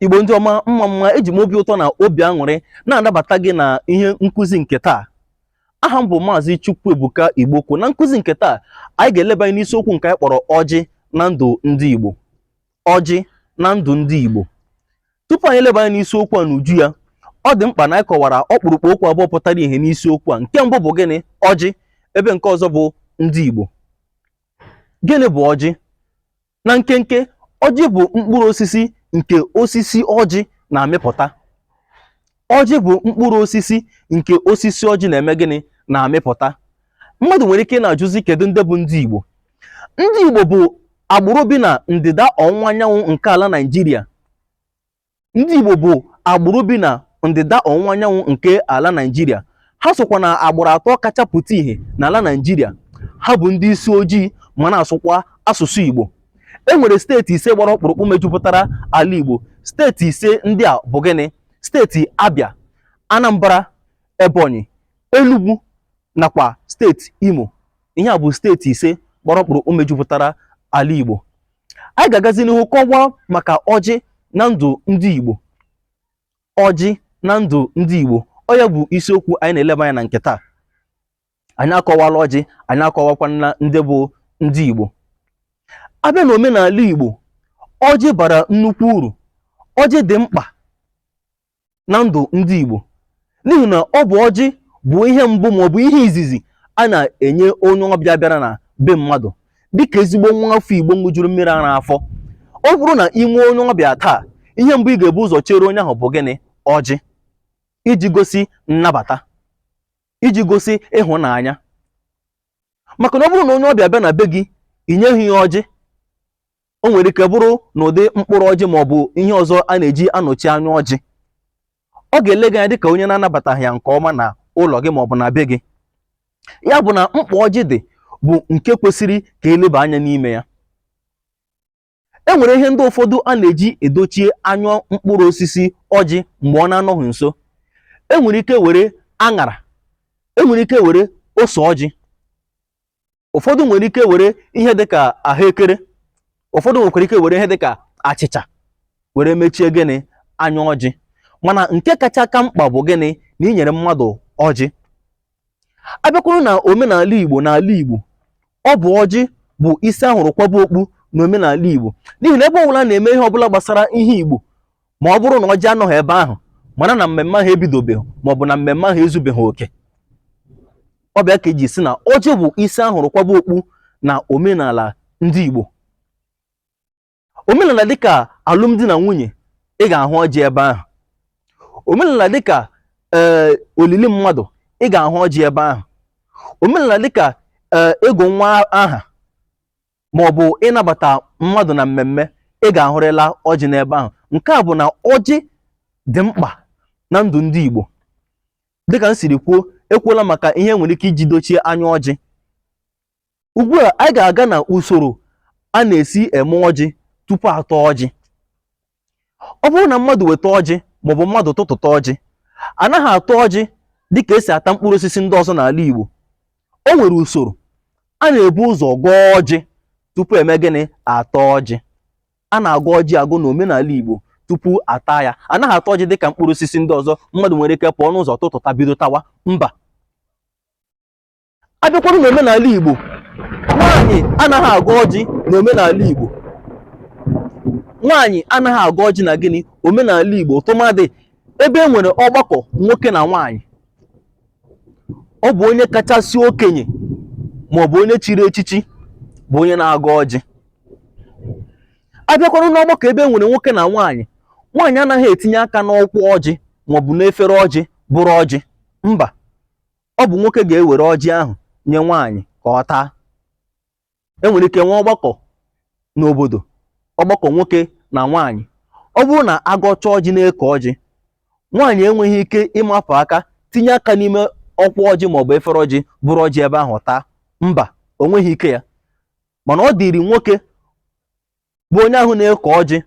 igbo ndị ọma mma mma eji m obi ụtọ na obi aṅụrị na-anabata gị na ihe nkụzi nke taa aha m bụ maazị Chukwuebuka Igbokwu na nkụzi nke taa anyị ga-eleba anya n'isiokwu nke anyị kpọrọ ọjị na ndụ ndị igbo ọjị na ndụ ndị igbo tupu anyị eleba anya n'isiokwu a n'uju ya ọ dị mkpa na anyị kọwara ọkpụrụkpụ okwu abụọ pụtara ìhè n'isiokwu a nke mbụ bụ gịnị ọjị ebe nke ọzọ bụ ndị igbo Gịnị bụ ọjị? Na nkenke, ọjị bụ mkpụrụ osisi nke osisi ọjị na-amịpụta. Ọjị bụ mkpụrụ osisi nke osisi ọjị na-eme gịnị? Na-amịpụta. Mmadụ nwere ike ịna-ajụzi kedu ndị bụ ndị Igbo? Ndị Igbo bụ agbụrụ bi na ndịda ọwụwa anyanwụ nke ala Naịjirịa. Ndị Igbo bụ agbụrụ bi na ndịda ọwụwa anyanwụ nke ala Naịjirịa. Ha sokwa na agbụrụ atọ kacha pụta ìhè n'ala Naịjirịa. Ha bụ ndị isi ojii ma na-asụkwa asụsụ Igbo. E nwere steeti ise gbara ọkpụrụkpụ mejupụtara ala Igbo. Steeti ise ndị a bụ gịnị? Steeti Abịa, Anambra, Ebonyi, Enugwu nakwa steeti Imo ihe a bụ steeti ise gbara ọkpụrụkpụ mejupụtara ala Igbo anyị ga-agazi n'ihu kọwaa maka ọjị na ndụ ndị Igbo ọjị na ndụ ndị Igbo ọ ya bụ isiokwu anyị na-eleba anya na nke taa anyị akọwala ọjị anyị akọwakwana ndị bụ ndị Igbo a bịa na omenala Igbo ọjị bara nnukwu uru ọjị dị mkpa na ndụ ndị Igbo n'ihi na ọ bụ ọjị bụ ihe mbụ ma ọ bụ ihe izizi a na-enye onye ọbịa bịara na be mmadụ dịka ezigbo nwa afọ Igbo ṅụjuru mmiri ara afọ ọ bụrụ na i nwee onye ọbịa taa ihe mbụ ị ga-ebu ụzọ chere onye ahụ bụ gịnị ọjị iji gosi nnabata iji gosi ịhụnanya maka na ọ bụrụ na onye ọbịa bịa na be gị i nyeghị ya ọjị o nwere ike bụrụ n'ụdị mkpụrụ ọjị ma ọ bụ ihe ọzọ a na-eji anọchi anya ọjị ọ ga-ele gị anya dịka onye na-anabataghị ya nke ọma na ụlọ gị ma ọ bụ na be gị ya bụ na mkpa ọjị dị bụ nke kwesịrị ka e leba anya n'ime ya e nwere ihe ndị ụfọdụ a na-eji edochie anya mkpụrụ osisi ọjị mgbe ọ na-anọghị nso e nwere ike were aṅara e nwere ike were ose ọjị ụfọdụ nwere ike were ihe dịka ahụekere ụfọdụ nwekwara ike were ihe dịka achịcha were mechie gịnị anya ọjị mana nke kacha ka mkpa bụ gịnị na i nyere mmadụ ọjị a bịakwuru na omenala igbo n'ala igbo ọ bụ ọjị bụ isi a hụrụ kwaba okpu na omenala igbo n'ihi na ebe ọbụla a na-eme ihe ọbụla gbasara ihe igbo ma ọ bụrụ na ọjị anọghị ebe ahụ mara na mmemme ahụ ebidobeghị ma ọ bụ na mmemme ahụ ezubeghị oke ọ bụ ya ka eji sị na ọjị bụ isi ahụrụ kwaba okpu na omenala ndị Igbo omenala dịka alụmdi na nwunye ị ga-ahụ ọjị ebe ahụ omenala dịka ee eh, olili mmadụ ị ga-ahụ ọjị ebe ahụ omenala dịka ee eh, ịgụ nwa aha ma ọ bụ ịnabata mmadụ na mmemme ị ga-ahụrịla ọjị n'ebe ahụ nke a bụ na ọjị dị mkpa na ndụ ndị Igbo dịka m siri kwuo ekwuola maka ihe nwere ike iji dochie anya ọjị ugbu a anyị ga-aga na usoro a na-esi eme ọjị tupu ata ọjị ọ bụrụ na mmadụ weta ọjị maọbụ mmadụ tụtụta ọjị anaghị ata ọjị dịka esi ata mkpụrụ osisi ndị ọzọ n'ala Igbo o nwere usoro a na-ebu ụzọ gọọ ọjị tupu eme gịnị ata ọjị a na-agọ ọjị agọ n'omenala Igbo tupu ata ya anaghị ata ọjị dịka mkpụrụ osisi ndị ọzọ mmadụ nwere ike pụọ n'ụzọ tụtụta bido tawa mba abịakwanụ n'omenala Igbo nwaanyị anaghị agọ ọjị na omenala Igbo nwaanyị anaghị agọ ọjị na gịnị omenala Igbo tụmadị ebe e nwere ọgbakọ nwoke na nwaanyị ọ bụ onye kachasị okenye ma ọ bụ onye chiri echichi bụ onye na-agọ ọjị abịakwanụ n'ọgbakọ ebe e nwere nwoke na nwaanyị nwaanyị anaghị etinye aka n'ọkwa ọjị maọbụ n'efere ọjị buru ọjị mba ọ bụ nwoke ga-ewere ọjị ahụ nye nwaanyị ka ọ taa e nwere ike nwee ọgbakọ n'obodo ọgbakọ nwoke na nwaanyị ọ bụrụ na agọcha ọjị na-eke ọjị nwaanyị enweghị ike ịmapụ aka tinye aka n'ime ọkwa ọjị maọbụ efere ọjị buru ọjị ebe ahụ taa mba o nweghị ike ya mana ọ dịrị nwoke bụ onye ahụ na-eke ọjị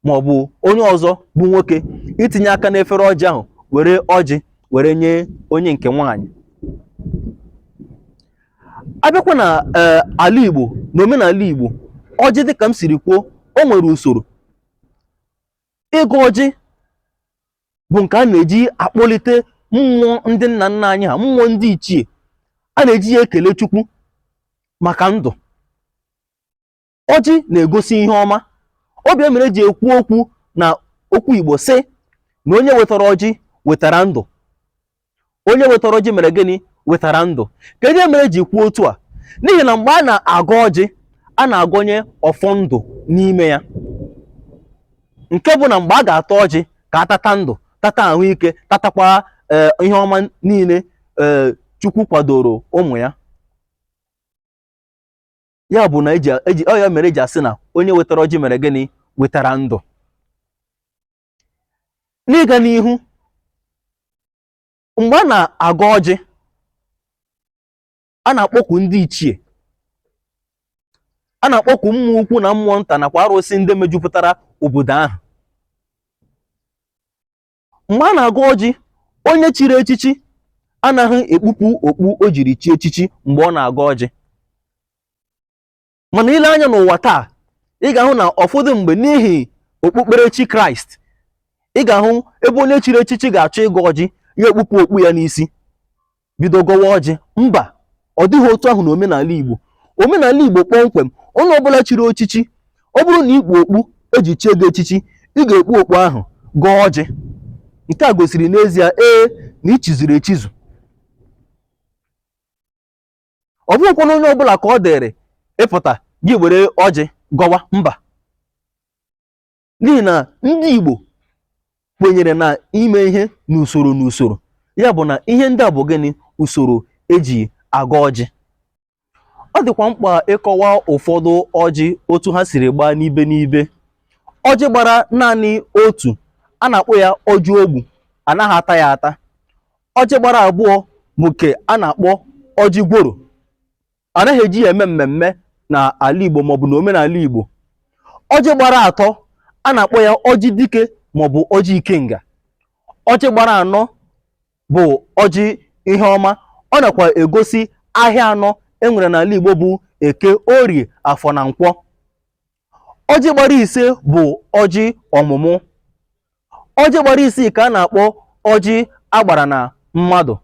ma ọ bụ onye ọzọ bụ nwoke itinye aka n'efere ọjị ahụ were ọjị were nye onye nke nwaanyị abịakwa na ee ala Igbo na omenala Igbo ọjị dịka m siri kwuo o nwere usoro ịgọ ọjị bụ nke a na-eji akpọlite mmụọ ndị nna nna anyị ha mmụọ ndị ichie a na-eji ya ekele Chukwu maka ndụ ọjị na-egosi ihe ọma ọ bụ ya mere eji ekwu okwu na okwu Igbo sị na onye wetara ọjị wetara ndụ onye wetara ọjị mere gịnị wetara ndụ kee ihe mere eji kwuo otu a n'ihi na mgbe a na-agọ ọjị a na-agọnye ọfọ ndụ n'ime ya nke bụ na mgbe a ga-ata ọjị ka atata ndụ tata ahụike tatakwa eh, ihe ọma niile eh, Chukwu kwadoro ụmụ ya ya bụ na ọ ya mere eji asị na onye wetara ọjị mere gịnị wetara ndụ n'ịga n'ihu mgbe a na-agọ ọjị a na-akpọku ndị ichie a na-akpọku mmụọ ukwu na mmụọ nta nakwa arụsị ndị mejupụtara obodo ahụ mgbe a na-agọ ọjị onye chiri echichi anaghị ekpupu okpu o jiri chie echichi mgbe ọ na-agọ ọjị mana i lee anya n'ụwa taa ị ga-ahụ na ụfọdụ mgbe n'ihi okpukperechi kraịst ị ga-ahụ ebe onye chiri echichi ga-achọ ịgọ ọjị ya ekpupu okpu ya n'isi bido gọwa ọjị mba ọ dịghị otu ahụ na omenala Igbo omenala Igbo kpọmkwem onye ọbụla chiri echichi ọ bụrụ na i kpu okpu eji chie gị echichi ị ga-ekpu okpu ahụ gọọ ọjị nke a gosiri n'ezie ee na i chizuru echizu ọ bụghịkwanụ onye ọbụla ka ọ dịrị ịpụta gị ewere ọjị gọwa mba n'ihi na ndị Igbo kwenyere na ime ihe n'usoro n'usoro ya bụ na ihe ndị a bụ gịnị usoro eji agọ ọjị ọ dịkwa mkpa ịkọwa ụfọdụ ọjị otu ha siri gbaa n'ibe n'ibe ọjị gbara naanị otu a na-akpọ ya ọjị ogbu anaghị ata ya ata ọjị gbara abụọ bụ nke a na-akpọ ọjị gworo anaghị eji ya eme mmemme na ala Igbo maọbụ na omenala Igbo ọjị gbara atọ a na-akpọ ya ọjị dike maọbụ ọjị ikenga ọjị gbara anọ bụ ọjị ihe ọma ọ nakwa egosi ahịa anọ enwere n'ala Igbo bụ eke orie afọ na nkwọ ọjị gbara ise bụ ọjị ọmụmụ ọjị gbara isii ka a na-akpọ ọjị agbara na mmadụ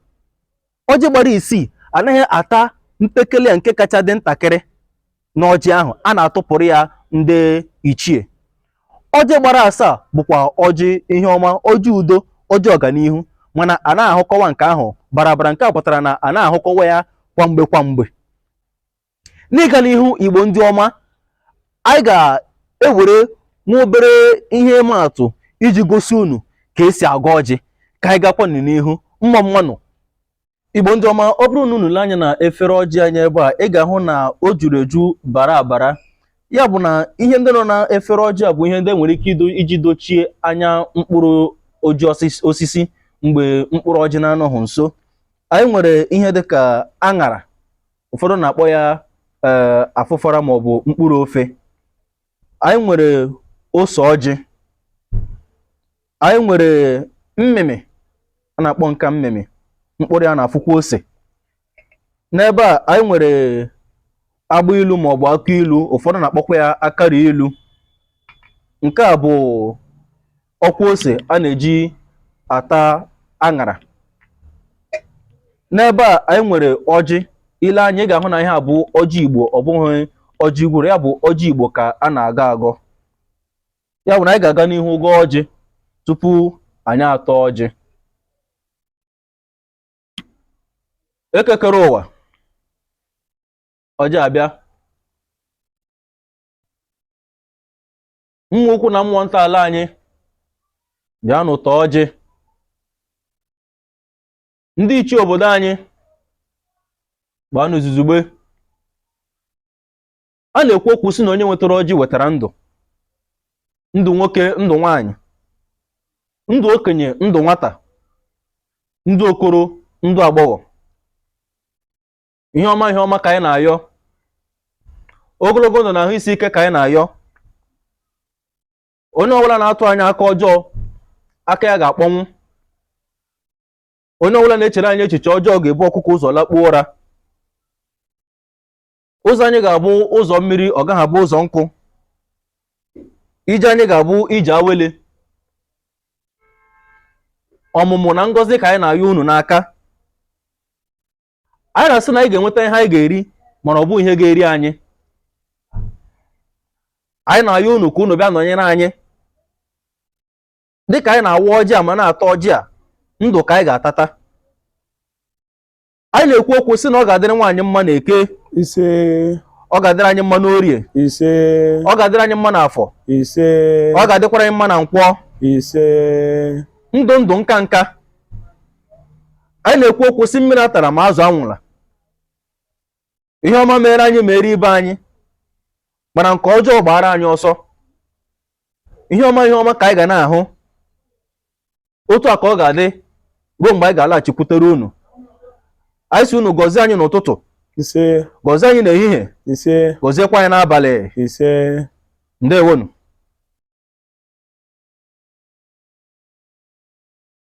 ọjị gbara isii anaghị ata mpekele ya nke kacha dị ntakịrị n'ọjị ahụ a na-atụpụrụ ya ndị ichie ọjị gbara asaa bụkwa ọjị ihe ọma ọjị udo ọjị ọganihu mana a na-ahụkọwa nke ahụ barabara nke a pụtara na a na-ahụkọwa ya kwamgbe kwamgbe n'ịga n'ihu igbo ndị ọma anyị ga-ewere nwa obere ihe ịma atụ iji gosi unu ka esi agọ ọjị ka anyị gakwa n'ihu mma mma nụ igbo ndị ọma ọ bụrụ na unu lee anya na efere ọjị anyị ebe a ị ga-ahụ na o juru eju bara abara ya bụ na ihe ndị nọ na efere ọjị a bụ ihe ndị e nwere ike iji dochie anya mkpụrụ ọjị osisi mgbe mkpụrụ ọjị na-anọghị nso anyị nwere ihe dịka aṅara ụfọdụ na-akpọ ya ee eh, afụfara maọbụ mkpụrụ ofe anyị nwere ose ọjị anyị nwere mmịmị a na-akpọ nke a mmịmị mkpụrụ ya na-afụkwa ose n'ebe a anyị nwere agba ilu maọbụ akụ ilu ụfọdụ na-akpọkwa ya akara ilu nke a bụ ọkwa ose a na-eji ata aṅara n'ebe a anyị nwere ọjị i lee anya ị ga-ahụ na ihe a bụ ọjị igbo ọ bụghị ọjị gworo ya bụ ọjị igbo ka a na-agọ agọ ya bụ na anyị ga-aga n'ihu gọọ ọjị tupu anyị ataa ọjị eke kere ụwa ọjị abịa mmụọ ukwu na mmụọ nta ala anyị bịanụ taa ọjị ndị ichie obodo anyị gbaanụ izuzugbe a na-ekwu okwu sị na onye nwetara ọjị wetara ndụ ndụ nwoke ndụ nwanyị ndụ okenye ndụ nwata ndụ okoro ndụ agbọghọ ihe ọma ihe ọma ka anyị na-ayọ ogologo ndụ na ahụ isi ike ka anyị na-ayọ onye ọbụla na-atụ anyị aka ọjọọ aka ya ga-akpọnwụ onye ọbụla na-echere anyị echiche ọjọọ ga-ebu ọkụkọ ụzọ lakpuo ụra ụzọ anyị ga-abụ ụzọ mmiri ọ gaghị abụ ụzọ nkụ ije anyị ga-abụ ije awele ọmụmụ na ngọzi ka anyị na-ayọ unu n'aka anyị na-asị na anyị ga-enweta ihe anyị ga-eri mana ọ bụghị ihe ga-eri anyị anyị na-ayọ unu ka unu bịa nọnyere anyị dịka anyị na-awa ọjị a ma na-ata ọjị a ndụ ka anyị ga-atata anyị na-ekwu okwu sị na ọ ga-adịrị anyị mma na eke ise ọ ga-adịrị anyị mma n'orie ise ọ ga-adịrị anyị mma n'afọ ise ọ ga-adịkwara anyị mma na nkwọ ise ndụ ndụ nka nka anyị na-ekwu okwu sị mmiri atala ma azụ anwụla ihe ọma meere anyị meere ibe anyị mana nke ọjọọ gbaara anyị ọsọ ihe ọma ihe ọma ka anyị ga na-ahụ otu a ka ọ ga-adị ruo mgbe anyị ga-alaghachikwutere unu anyị sị unu gọzie anyị n'ụtụtụ ise gọzie anyị n'ehihie ise gọziekwa anyị n'abalị ise ndewonụ